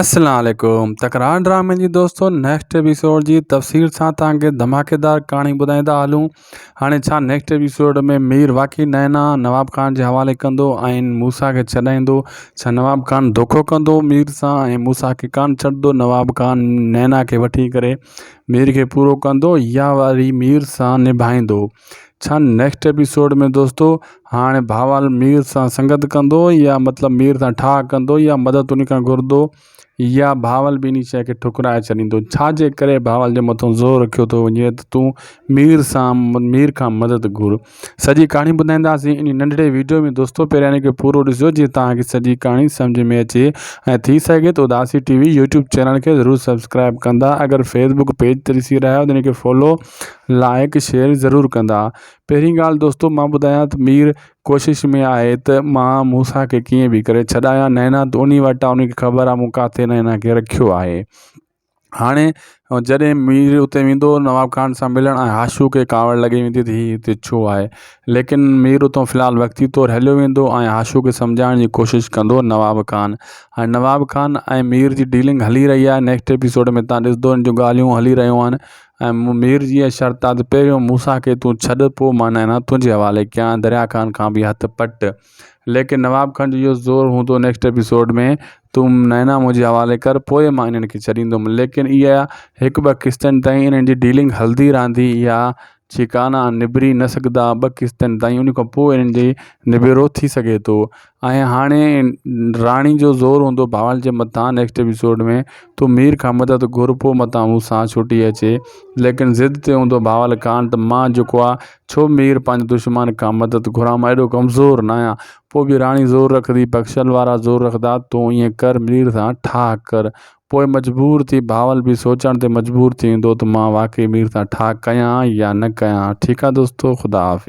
اسلام عليڪم تڪرار ڊرامي جي دوستو نيڪسٽ ايپيسوڊ جي تفصيل سان توهان کي ڌماڪيدار ڪهاڻي ٻڌائيندا هلون هاڻي ڇا نيڪسٽ ايپيسوڊ ۾ مير واقعي نينا نواب خان جي حوالي ڪندو ۽ موسا کي ڇڏائيندو ڇا نواب خان دوکو ڪندو مير سان ۽ موسا کي ڪانه ڇڏندو نواب خان نينا کي وٺي ڪري مير کي پورو ڪندو يا وري مير سان نڀائيندو ڇا نيڪسٽ ايپيسوڊ ۾ دوستو هاڻي ڀاوال مير سان سنگت ڪندو يا مطلب مير سان ٺاهه ڪندو يا مدد ان کان گهردو يا ڀاوال به انهي شيء کي ٺڪرائي ڇڏيندو ڇا جي ڪري ڀاوال جي مٿو زور رکيو ٿو وڃي ته تون مير سان مير کان مدد گهر سڄي ڪهاڻي ٻڌائينداسين انهي ننڍڙي ويڊيو ۾ دوستو پهريان ان کي پورو ڏسجو جي توهان کي سڄي ڪهاڻي سمجهه ۾ اچي ۽ ٿي سگهي ته Udasi TV YouTube channel کي ضرور سبسڪرائب ڪندا اگر فيسبوڪ پيج تي ڏسي رهيا آهيو ته ان کي فالو لائق شيئر ضرور ڪندا. پهرين ڳالهه دوستو مان ٻڌايان ته مير ڪوشش ۾ آهي ته مان موسيٰ کي ڪيئن به ڪري ڇڏايان نينا ته انهي وٽ آ انهي کي خبر آ مون ڪاٿي نينا کي رکيو آهي هاڻي جڏهن مير اتي ويندو نواب خان سان ملڻ ۽ هاشو کي ڪاوڙ لڳي ويندي ته هي هتي ڇو آهي ليڪن مير اتو في الحال وقتي طور هليو ويندو ۽ هاشو کي سمجهائڻ جي ڪوشش ڪندو نواب خان هاڻي نواب خان ۽ مير جي ڊيلنگ هلي رهي آهي نيڪسٽ ايپيسوڊ ۾ تهان ڏسدو ان جون ڳالهيون هلي رهيون آهن ۽ مون مير جيء شرط آ ته پهريون موسيٰ کي تون ڇڏ، پوء مان نئنا تنهنجي حوالي ڪيان، دريا خان کان به هٿ پٽ. ليڪن نواب خان جو اهو زور هوندو نيڪسٽ ايپيسوڊ ۾ تون نئنا منهنجي حوالي ڪر، پوء مان انهن کي ڇڏيندم. ليڪن اها هڪ ٻه قسطن تائين انهن جي ڊيلنگ هلندي رهندي اها ڇيڪانا نبري نه سگهندا ٻه قسطن تائين، ان کان پوء انهن جي نبيرو ٿي سگهي ٿو. ۽ هاڻي راڻي جو زور هوندو بهوال جي مٿان نيڪسٽ ايپيسوڊ ۾ تو مير کان مدد گهر پو متان هو سان ڇٽي اچي ليڪن ضد تي هوندو بهوال کان ته مان جيڪو آ ڇو مير پنهنجي دشمان کان مدد گهران مان ايڏو ڪمزور ناهيان پو به راڻي زور رکندي بخشل وارا زور رکندا تو ائين ڪر مير سان ٺاهه ڪر پوء مجبور ٿي بهوال به سوچڻ تي مجبور ٿي ويندو ته مان واقعي مير سان ٺاهه ڪيان يا نه ڪيان ٺيڪ آ دوستو خدا حافظ.